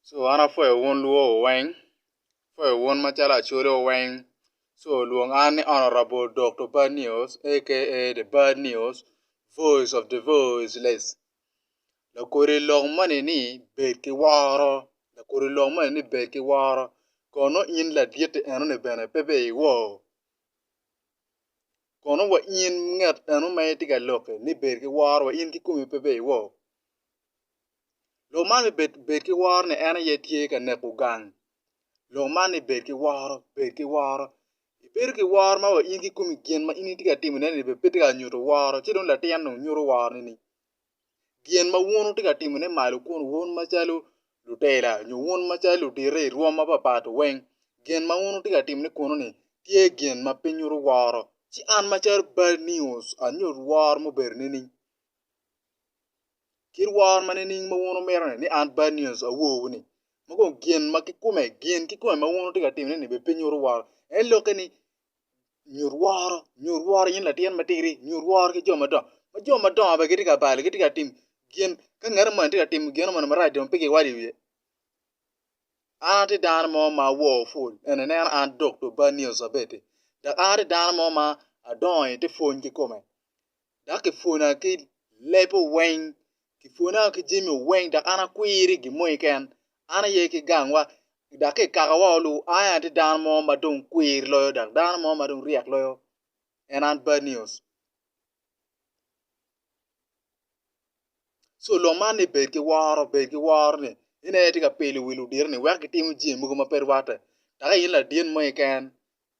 so an apwoyo wun lwor wu weng, apwoyo wun macalo acholi wu weng so lwong an ni honourable Dokto Bad News aka the bad news voice of the voiceless lakodi lok moni ni bed ki woro lakodi lok moni ni bed ki woro kono in laditi enoni bene pe bed ki wor kono wa in ngat eno ma itye ka lokke ni bed ki woro wa in kikomi pe bed ki wor Lo man me bed bed ki woro ni en aye tye ka neko gang, lo man ni bed ki woro bed ki woro ibedo ki woro ma wa in kikomi gin ma in itye ka timone ni bene pe tye ka nyuto woro ci dong latin dong nyuto woro nini? Gin ma wun wutye ka timone malo kunu wun macalo lutela nyo wun macalo ludito i rwom mapapat weng gin ma wun wutye ka timone kunu ni tye gin ma pe nyuto woro ci an macalo bal nius anyut woro mubedo nini? kit woro ma nining ma wun wumito ni an bad news awowu ni ma kong gin ma kikome gin kikome ma wun wutye ka timone ni bene pe nyuto woro en lokke ni nyut woro nyut woro in latin matidi nyut woro ki jo madongo ma jo madongo bene gitye ka balo gitye ka timo gin ka ngat moni tye ka timo gin moni marac dong pe giwai i wiye an atye dano mo ma awo ful eni ineno an dokto bad news abedde dok an atye dano mo ma adongo i te pwony kikome dok kipwona ki lebbe weng, kipwona ki jami weng dok an akwir i gin mo keken, an aye ki gangwa dok ki i kakawa wa luu ai atye dano mo ma dong kwir loyo dok dano mo ma dong ryek loyo en an bad news. Co lok man ni bed ki woro bed ki woro ni en aye atye ka pilo wi ludito ni wek gitimo jami mogo ma pe rwatte dok in ladit mo keken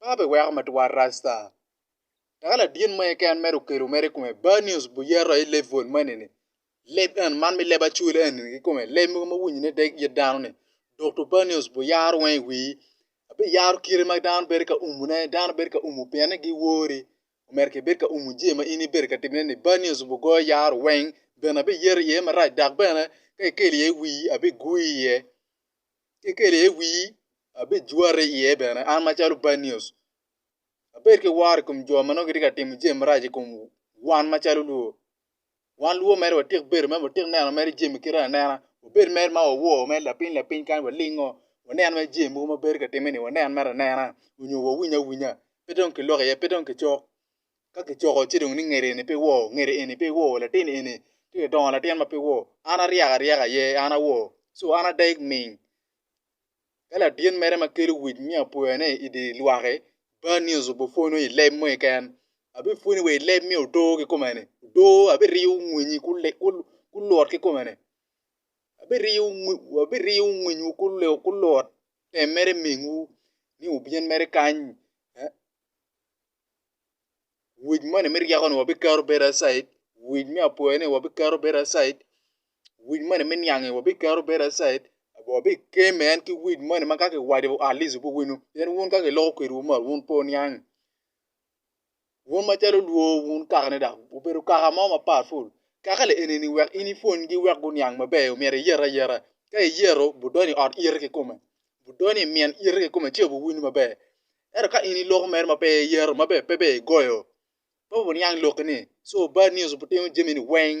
ma be weko matwal rasta dok ladyen mo keken mere okelo mere i kome bad news buyeto aye level moni ni leb eni man me leb acwal eni kikome leb mogo ma winyi ne dek it dano ni Dokto bad news buyaro weng i wii biyaro kite ma dano bedo ka umo ne dano bedo ka umo pien ni giwori omyero kibed ka umo jami ma in ibedo ka timone ni bad news bugoyo yaro weng bene abiyeto iye marac dok bene ka ikelo iye wii abigweyo iye kekeli iye wii, abijwati iye bene, an macalo Banius, abed ki woro i kom jo ma nongo gitye ka timo jami marac i kom wan macalo lwo. Wan lwo mere watik bedo, mere watik neno mere jami kite anena, wabed mere ma wawo mere lapiny lapiny kadi walingo, wanen mere jami mogo ma bedo ka timme-ni wanen mere anena nyo wawiny awinya, pe dong kilok iye, pe dong kicok. ka kicoko ci dong ni ngede eni pe wor, ngede eni pe wor, latin eni tye ka dongo latin ma pe wor, an aryeko aryeka aye an awor so an ada igming. Ka ladit mere ma kelo wic me apwoyone i dye lwak-ki, bad nyoso obipwonyo i leb mo keken, abipwonyi wa i leb me odoo kikome-ni, odoo abiriyo winyi kulot kikome-ni, abiriyo winywu kulot tem mere mingwu ni wubin mere kany. wic moni me ryeko ni wabiketo bedo acid, wic me apwoyo ni wabiketo bedo acid, wic moni me niang ni wabiketo bedo acid, wabikeme man ki wic moni ma ka kiwaco wa at least wubbi wino pien wun ka kiloko kwedwu mot wun pe wuniang, wun macalo olwo wun kaka ni dok obedo kaka mo ma powerful kaka ni eni ni wek in ipwonygi wek guniang maber myero iyete ayeta, ka iyeto budonyo i ot iyete kikome budonyo i myen ite kikome ci buwinyo maber. Ento ka in i lok mere ma pe iyero ma bene pe ber igoyo, pe wuniang lokki-ni. Co bad news butimo jami-ni weng.